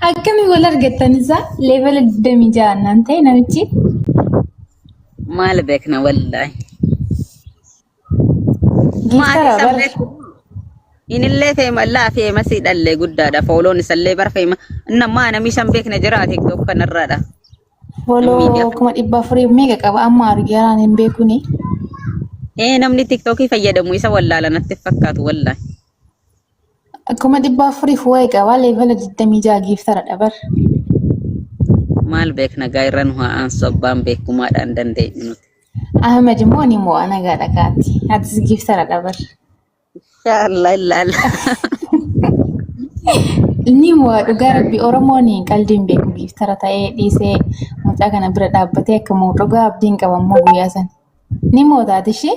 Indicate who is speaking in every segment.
Speaker 1: Akkami wal argattan isaa leevela 26 naan ta'e namichi.
Speaker 2: Maal beekna wallaahi.
Speaker 1: Maatii Geessara san bar. beeku.
Speaker 2: Inillee feema laafi eemasii dhallee guddaadha. Fooloon isallee bar feema. Nammaa namii san beekna jira tiktok kanarraadha. Foloo
Speaker 1: Miidiyaa. kuma dhibba afurii meeqa qaba amma argee haraan hin beekuni. Ee
Speaker 2: namni tiktokii fayyadamu isa wallaala natti fakkaatu wallaahi.
Speaker 1: Akkuma dhibba afuriif waa'ee qabaa leevela 26 giiftara dhabar.
Speaker 2: Maal beekna gaa irra nu haa aansu abbaan beekumaadhaan dandeenyu nuti. Ahmed immoo
Speaker 1: ni mo'a nagaa dhagaatti. Atis giiftara dhabar. Inshaallah
Speaker 2: illaalla.
Speaker 1: Ni mo'a dhugaa rabbi Oromoon qaldiin beeku giiftara ta'ee dhiisee mucaa kana bira dhaabbatee akka mo'u dhugaa abdiin qaba immoo guyyaa sana. Ni mo'ataati ishee.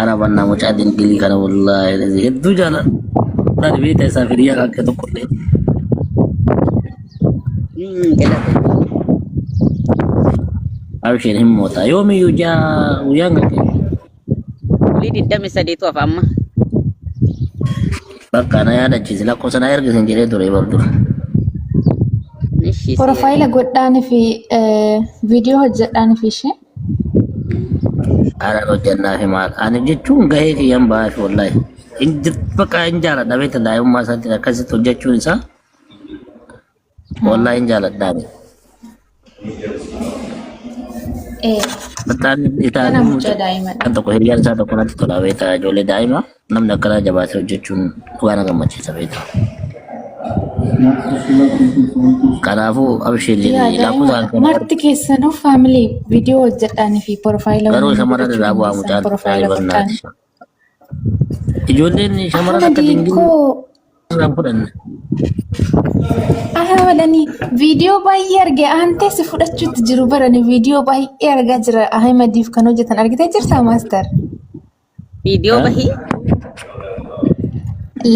Speaker 1: Ana
Speaker 3: banna mucaa dinqii kana wallaahi lazi hedduu jaaladha beekta isaa firiyaa kan akka tokko illee. Abshiin hin mootaa yoomiyyuu jaa guyyaan kan kee
Speaker 2: Bulii digdami sadiitu hafa amma.
Speaker 3: bakka na yaadachiise lakkoofsa na ergisin jedhee ture bardu. Ishii si
Speaker 1: Profaayila godhaanii fi viidiyoo hojjedhaanii fi ishee. Haadha
Speaker 3: hojjannaa fi maal ani jechuun gahee kiyyan ba'aa fi wallahi hin jir- bakka hin jaaladha beekta daa'imummaa isaatiin akkasitti hojjechuun isaa wallahi hin jaaladha ani. Ee, Battaan kana itaalee mucaa daa'ima.
Speaker 1: kan tokko hiriyaan isaa tokko
Speaker 3: natti tola beekta ijoollee daa'imaa. Namni akkanaa jabaatee hojjechuun dhugaa na gammachiisa beektaa. Kanaafuu abshee Yaa jedhee daa'ima lakkoofsaan kana marti keessanuu
Speaker 1: faamilee viidiyoo hojjedhaanii fi porofaayila garuu waliin shamarran godhachuu irraa bu'aa
Speaker 3: dandeessan mucaan porofaayila baay'ee bartaan. barnaati. Ijoolleen shamarran akka Ahmadii dingilii koo irraa hin fudhanne.
Speaker 1: Ahmadanii viidiyoo baay'ee arge aantee si fudhachuutti jiru barani viidiyoo baay'ee argaa jira Ahmadiif kan hojjetan argitee jirtaa maastar.
Speaker 2: Viidiyoo Haa? bahii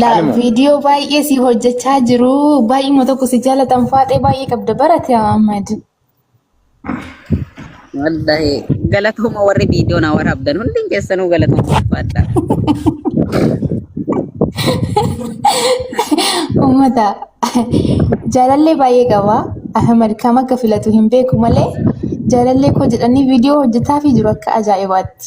Speaker 1: La Maaluma? viidiyoo baay'ee si hojjechaa jiru. Baay'eema tokko si jaalatan faaxee baay'ee qabda barate Ahmad.
Speaker 2: wallahi galatooma warri viidiyoo na waraabdan hundi keessanuu galatooma ulfaadha.
Speaker 1: Uummata jaalallee baay'ee qaba. Ahmad kam akka filatu hin beeku malee jaalallee koo jedhanii viidiyoo hojjetaa fi jiru akka ajaa'ibaatti.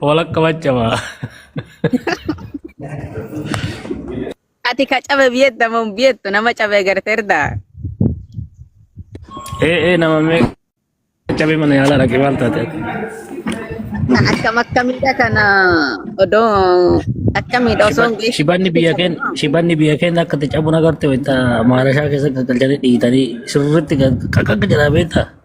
Speaker 3: Walakka maccamaa.
Speaker 2: Ati ka cabe biyetta moo biyettu nama cabe garteerda.
Speaker 3: Ee ee nama mee cabee mana yaalaa dhaqee maal taate ati?
Speaker 2: Na akkam akkamiidha kana odoo akkamiidha osoo hin beekin. Shibanni biyya keenya
Speaker 3: shibanni biyya keenya akka itti cabuun agarte wayita maarashaa keessa galchanii dhiitanii sirriitti qaqqa jedhaa beektaa?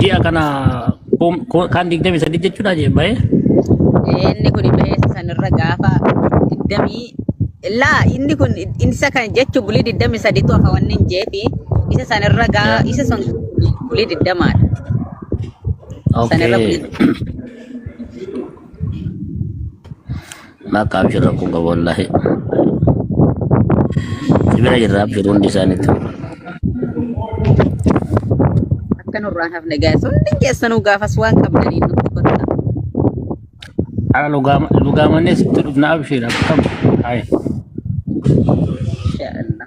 Speaker 3: Ji'a kana kom- ko- kan 23 jechuudha jee ba'ee. Inni
Speaker 2: kun beessa sanirra gaafa digdamii laa inni kun isa kan jechuun bulii digdamii sadiitu hafa wanni hin jeefi isa sanirra gaa Eh, isa sun bulii digdamaadha. Sanirra Okay. bulii
Speaker 3: Maaf ka abshir rakkoo qaba wallaahi. Si bira jirra abshir hundi isaaniitti.
Speaker 2: Akka nurraa hin hafne gaa'es hundi keessanuu gaafas waan qabdanii nutti kottaa. Haa
Speaker 3: lugaama lugaamannee sitti dhufna abshir akkam. Hai. Inshaa Allah.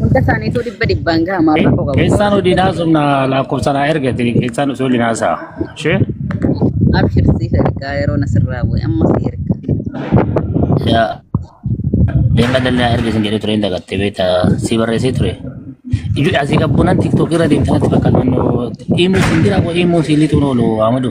Speaker 2: Hunda isaaniituu dhibba dhibbaan gaha maaf rakkoo qabu. Keessaan hojii naasumna
Speaker 3: lakkoofsa naa ergate keessaan osoo hojii naasaa. Ishee Abshir
Speaker 2: siif ergaa yeroo nasirraa bu'e amma si erga.
Speaker 3: yaa deema dandaa erga sin jedhee ture hin dagatte beekta si barreessee ture. Ijuu asii qabbunan tiktookii irra deemtanatti bakka naannoo imuu sin jira imuu siin lixuun oolu Ahmadu.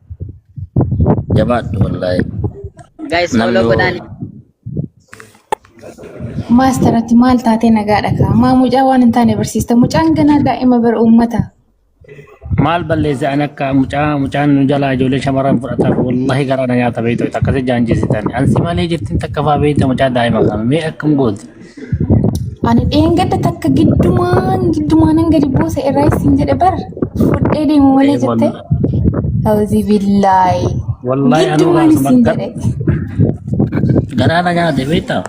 Speaker 3: Jabaadhu wallaahi. Guys Namni
Speaker 2: follow yoo- godhaan.
Speaker 1: Maastaratti maal taatee nagaadha kaa? Maa mucaa waan hin taane barsiista. Mucaan ganaa daa'ima bara uummata.
Speaker 3: Maal balleesse an akka mucaa mucaan nu jalaa ijoollee shamarran fudhataaf wallaahi garaa na nyaata beektu akkasii jaanjisitan. Ansi malee jirtin takka faa beekta mucaa daa'ima kana mee akkam gooti. Ani
Speaker 1: dheengadda takka giddumaan giddumaanan gadi buuse irraa isin jedhe bar fudhee deemu malee Ee, jette. wallahi. Hawzi billaahi. Wallahi anuu
Speaker 3: Giddumaan raasa isin
Speaker 1: bakka-
Speaker 3: jedhe. Garaa na nyaate beektaa?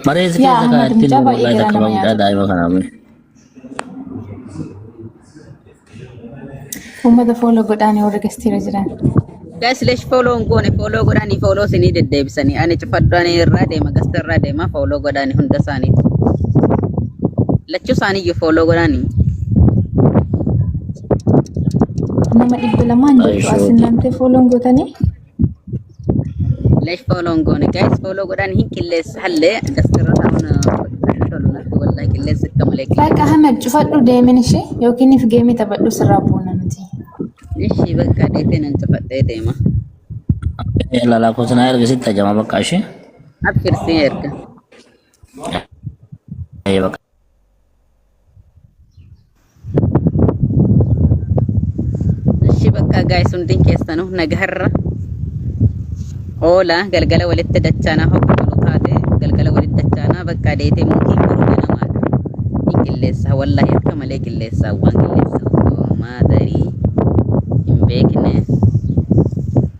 Speaker 3: Mareessi Yaa, keessa Ahmad, kaa'etti mucaa baay'ee
Speaker 1: mucaa garaa
Speaker 3: takka nama
Speaker 1: bamuudhaa nyaata. daa'ima
Speaker 3: kanaa.
Speaker 1: Uummata fooloo godhaanii warra gastiira jiran. Guys, lesh
Speaker 2: follow hin goone follow godhaanii follow isinii deddeebisanii ani cufadhaan irraa deema gasta irraa deema follow godhaanii hunda isaaniiti. Lachuu isaaniiyyuu follow godhaanii.
Speaker 1: Nama dhibba lamaan jirtu as Ayishooti. innantee fooloon gootanii.
Speaker 2: Lesh follow hin goone guys follow godhaan hin qilleessa hallee daskarra ta'uun tolu natti wallahi qilleessa akka malee Bakka qilleessa. Ahmed cufadhu
Speaker 1: deemin ishee yookiin if geemii taphadhu sirraa buuna nuti. Ishii
Speaker 2: bakka deetee nan cufadhee deema.
Speaker 3: Lalaa koo sanaa erga sitti ajama bakka ishee. Abshir si
Speaker 2: erga.
Speaker 3: Ee bakka.
Speaker 2: Ishi bakka gaa'is hundin keessanu nagaharra oola galgala walitti dachaanaa hoggu tolu taate galgala walitti dachaanaa bakka deetee muukiin boru ganamaadha. Hin qilleessa wallahi akka malee qilleessa waan qilleessa osoo maadarii hin beekne.